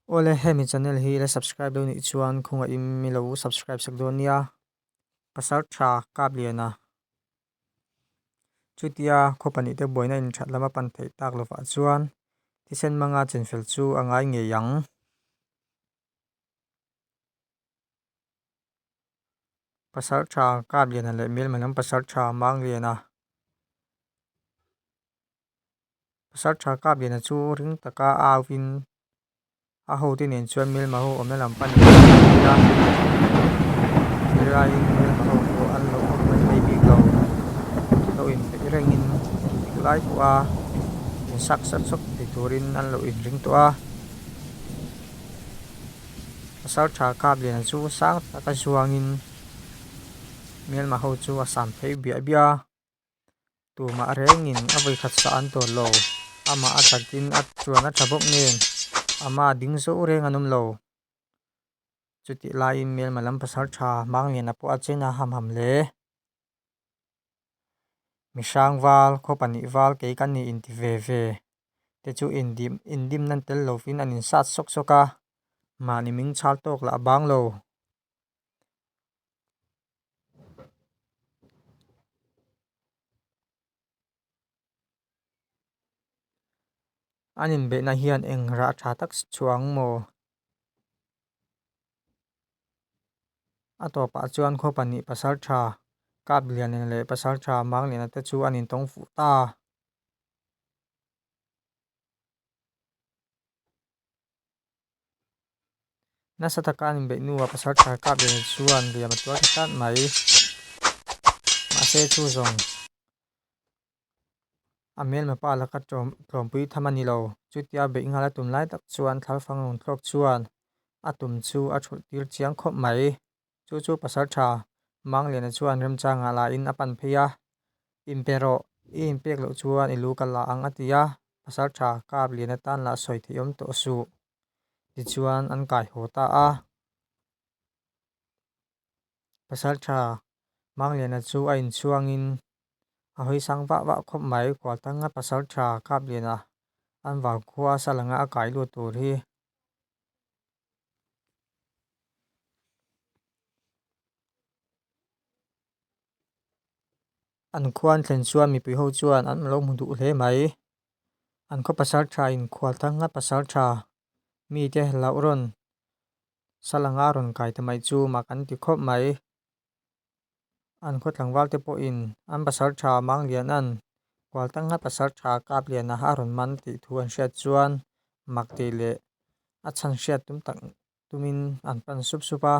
Awle hemi channel hi ila subscribe lo nih chuan khunga in milo subscribe sak dawn nia. Pasal tha kap liana. Chutia khaw pahnih te buaina in that lama pan theih tak lovah chuan thisen hmanga chenfel chu a ngai ngei ang. Pasal tha kap liana leh hmel hmalam pasal tha mang liana. Pasal tha kap liana chu ring taka auin a hote nen chuan Melmaho awmna lam pan leh a ni a, helaiin Melmaho pawh an lo awm mai phei bik lo, lo inpeih rengin an dik lai tawh a, in saksa chawp thei turin an lo inring tawh a. Pasal tha kap liana chu sang taka zuangin Melmaho chu a sam phei biah biah a. tumah a rengin a vawi khat sa an tawh lo amah a tlatin a chuan a tha bawk ngeng ama ding zauh reng an awm lo chutih laiin Hmelma lam pasal tha Mangliana pawh a chena ham ham hle Mihring val khaw pahnih val kei kan ni in ti ve ve te chu indim indim nan tel lovin an insat sawk sawk a mahni min chhak tawk lah a bang lo. An inbeihna hian eng rah tha tak si chuang maw? A tawpah chuan khaw pahnih pasal tha, kap lian nen leh pasal tha mâng nena te chu an intawng fuh ta a. Nasa taka an inbeih hnuah pasal thar kap leh nen chuan riam a tuar ta tlat mai. Mahse chuzawng a hmelma pa laka tlawmpui tham a ni lo. Chutia beih nghal a tum lai tak chuan Thlarfang Lungthlawp chuan a tum chu a chhulh tir chiang khawp mai. Chu chu pasal tha Mangliana chuan remchangah lahin a pan phei a, In pe rawh, i in pek loh chuan i lu ka la ang a ti a, pasal tha kap lian atan lah sawi theihawm tawh suh tichuan an kai haw ta a. Pasal tha Mangliana chu a inchhuangin a hawi sang vah vah khawp mai, Kualtanga pasal tha kap lianah an vau khua a sal anga a kai lut tur hi. An khuan thlen chuan mipui ho chuan an lo hmu duh hle mai. An khaw pasal tha in khual thar ngat pasal tha mite loh rawn sal anga rawn kai ta mai chu mah kan ti khawp mai. an khaw tlangval te pawhin an pasal tha mang lian an, kual tak ngai pasal tha kap lian a a rawn man tih thu an hriat chuan mak teh leh a chhan hriat tum tak tumin an pan sup sup a.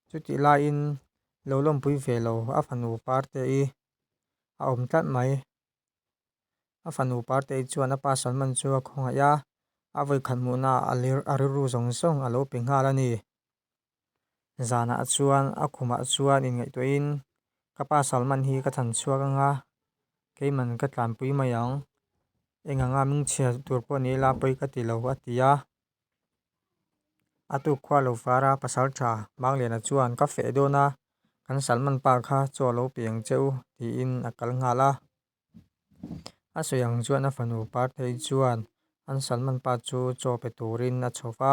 Chutih laiin lo lawmpui ve lo a fanu par te hi a awm tlat mai. A fanu Parteii chuan a pa Salman chu a khawngaih a, a vawikhat hmuhnaah a lir a rilru zawng zawng a lo pe nghal a ni. Zanah chuan a khumah chuan inngaihtuahin, Ka pa Salman hi ka chhan chhuak ang a, keiman ka tlanpui mai ang, enganga mingchhia tur pawh ni ila pawi ka ti lo a ti a. a tu khua lo vara pasal tha Mangliana chuan ka feh dawn a, kan Salman pa kha chaw lo piang che u tiin a kal nghal a. A sawi ang chuan a fanu Parthei chuan an Salman pa chu chaw pe turin a chho va.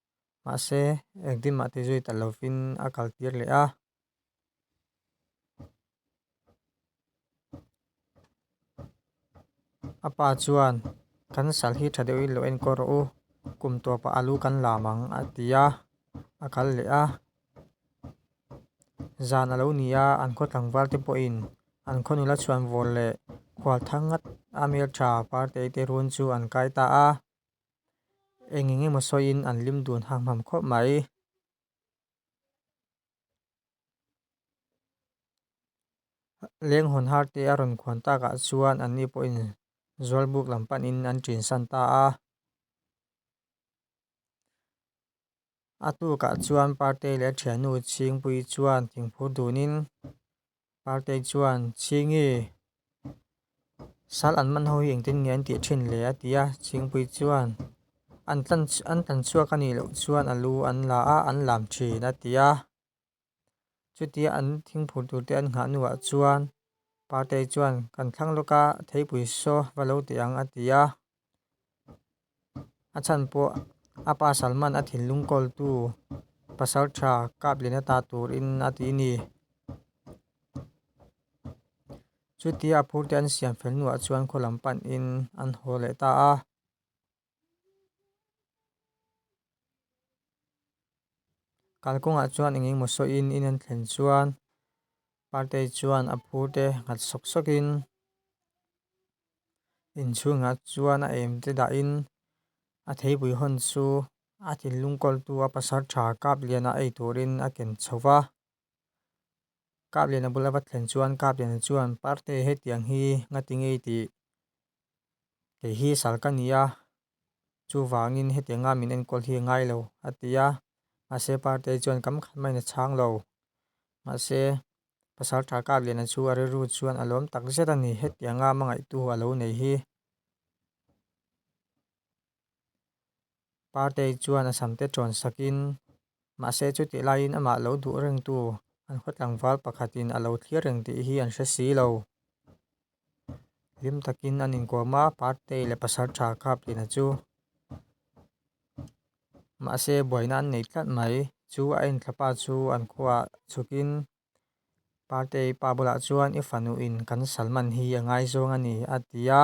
mahse engtin mah tizui ta lovin a kal tir leh a. A pa chuan, Kan sal hi tha deuhin lo enkawl rawh u, kum tawp ah a lu kan lam ang, a ti a, a kal leh a. Zan a lo ni a, an khaw tlangval te pawhin an khaw nula chhuan vawr leh khualtha ngat a hmeltha par tei te run chu an kai ta a. eng eng emaw sawiin an lim dun hamham khawp mai. Leng hawn har te a rawn kuan takah chuan an ni pawhin zual buk lam panin an chinsan ta a. A tukah chuan Party leh a thiannu Chhingpuii chuan thingphur dunin Party chuan Chhingi sal an man ho hi engtin nge an tih thin le a ti a, Chhingpuii chuan an tlan chhuak a nih loh chuan a lu an la a, an lam thin a ti a. Chutia an thingphur turte an nghah hnuah chuan Partei chuan kan thlang lawk a, theipui saw va lo teh ang, a ti a. A chhan pawh a pa Salman a thinlung kawltu pasal tha kap leh na ta turin a ti ni. Chutia a phurte an siam fel hnuah chuan khaw lam panin an haw leh ta a. Kalkawngah chuan engengmaw sawiin in an thlen chuan Partae chuan a phur te nghat sawk sawkin inchhungah chuan a em te dahin a theipui hawn chu a thinlung kawltu a pasar tha kap liana ei turin a ken chho va. Kaplena bula va thlen chuan Kaplena chuan, Parte hetiang hi ngati ngei tih? Kei hi sal ka ni a, chuvangin hetianga min enkawl hi a ngai lo, a ti a. Mahse Parte chuan, Kam khat mai na chhang lo. Mahse, pasal tha Kaplena chu a rilru chuan a lawm tak zet a ni, hetianga hmangaihtu a lo nei hi. Party chuan a sam te tawn sakin, mahse chutih laiin amah lo duh rengtu an khaw tlangval pakhatin a lo thlir reng tih hi an hre si lo. Hlim takin an inkawm a, Party leh pasal tha kap tina chu. Mahse buaina an nei tlat mai. Chu a en thla pa chu an khuaah chukin, Party pa bulah chuan i fanuhin kan Salman hi a ngai zawng a ni, a ti a.